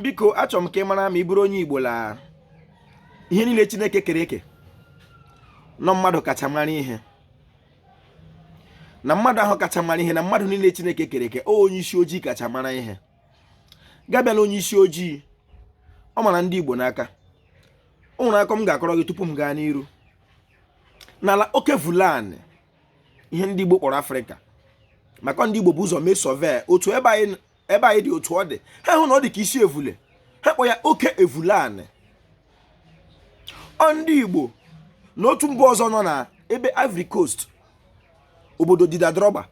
biko achọrọ m ka ị mara ma ị bụrụ onye Igbo la ihe niile Chineke kere eke n'ọ mmadụ kacha mara ihe na mmadụ ahụ kacha mara ihe na mmadụ niile Chineke kere eke onye isi ojii kacha mara ihe gabịa na onye isi ojii ọ mara ndị Igbo n'aka o nwere akọ m ga-akọrọ gị tupu m gaa n'iru n'ala oke evule anị ihe ndị Igbo kpọrọ Afrịka maka ndị Igbo bu ụzọ mee survey otu ebe anyị ebe anyị dị otu ọ dị ha hụ na ọ dị ka isi evule ha kpọ ya oke evule anị ọ ndị igbo na otu mba ọzọ nọ na ebe ivory coast obodo Didier Drogba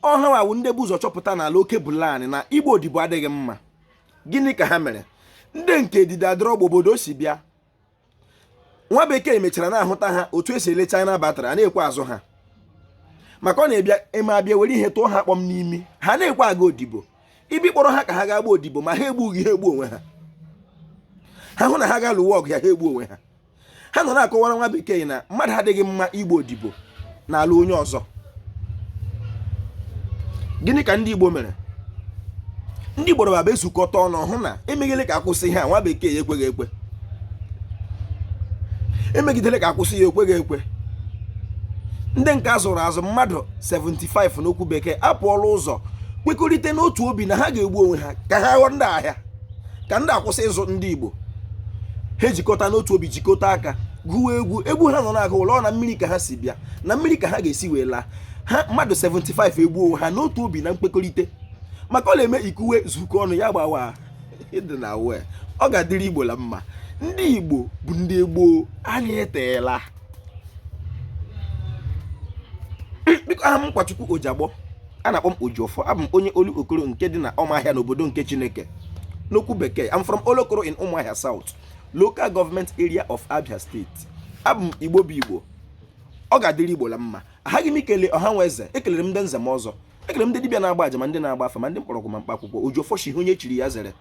ọ ha wụ ndị bu ụzọ chọpụta n'ala oke ebule anị na ịgba odibo adịghị mma gịnị ka ha mere ndị nke Didier Drogba obodo si bịa nwa bekee mechara na-ahụta ha otu e si ele china batrị a na-ekwe azụ ha maka ọ na-eme a bịa were ihe tụọ ha kpọm n'imi ha na-ekwe aga odibo ị bịa kpọrọ ha ka ha ga-agba odibo ma ha egbughị ha egbuo onwe ha ha hụ na ha ga-alụwa ọgụ ya ha egbuo onwe ha ha nọ na-akọwara nwa bekee na mmadụ adịghị mma ịgba odibo n'ala onye ọzọ gịnị ka ndị Igbo mere ndị Igbo baba ezukọta ọnụ hụ na e megidele ka a kwụsị ha nwa bekee ya ekweghị ekwe e megidele ka a kwụsị ya ekweghị ekwe ndị nke a zụrụ azụ mmadụ 75 n'okwu bekee apụọ la ụzọ kwekọrịta n'otu obi na ha ga-egbu onwe ha ka ha ghọọ ndị a ahịa ka ndị a kwụsị ịzụ ndị Igbo ha ejikọta n'otu obi jikọta aka gụwa egwu egwu ha nọ na-agụ wụ na mmiri ka ha si bịa na mmiri ka ha ga-esi wee laa ha mmadụ 75 egbuo onwe ha n'otu obi na nkwekọrịta maka ọ na-eme ikuwe zukọ ọnụ ya gbawa ịdị na wee ọ ga-adịrị igbo la mma ndị igbo bụ ndị gboo anyị eteela biko aha m nkwachukwu ojagbọ a na-akpọ m ojiọfọ abụ m onye Olokoro nke dị na Ụmụahịa n'obodo nke chineke n'okwu bekee I'm from olokoro in ụmụahịa south local government area of Abia State abụ m Igbo bụ Igbo ọ ga-adịrị Igbo la mma ahaghị m ikele ọha na eze ekelere m ndị nze ma ọzọ ekelere m ndị dibịa na-agba aja ma ndị na-agba afa ma ndị mkpọrọgwụ ma mkpa akwụkwọ Ojiọfọ shị ihe onye chiri ya zere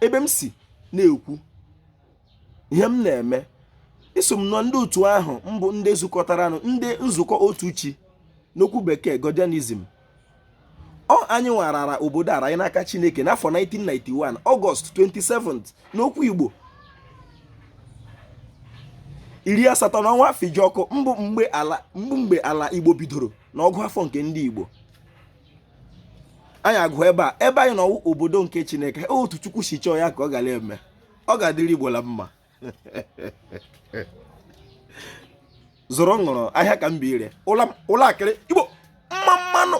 ebe m si na-ekwu ihe m na-eme eso m na ndị otu ahụ bụ ndị zukọtara ọnụ ndị nzukọ otu chi n'okwu bekee godianism ọ anyị nwarara obodo ala anyị n'aka chineke n'afọ 1991 ọgọst 27 n'okwu igbo iri asatọ na ọnwa Fijọkụ bụ mgbe ala igbo bidoro na ọgụ afọ nke ndị igbo anyị agụ ebe a ebe anyị nọ wụ obodo nke chineke otu chukwu si chọọ ya ka ọ gara eme ọ ga-adịrị igbo la mma zụrụ ṅụrụ ahịa ka m bi ire ụlọ akịrị igbo mma mma nụ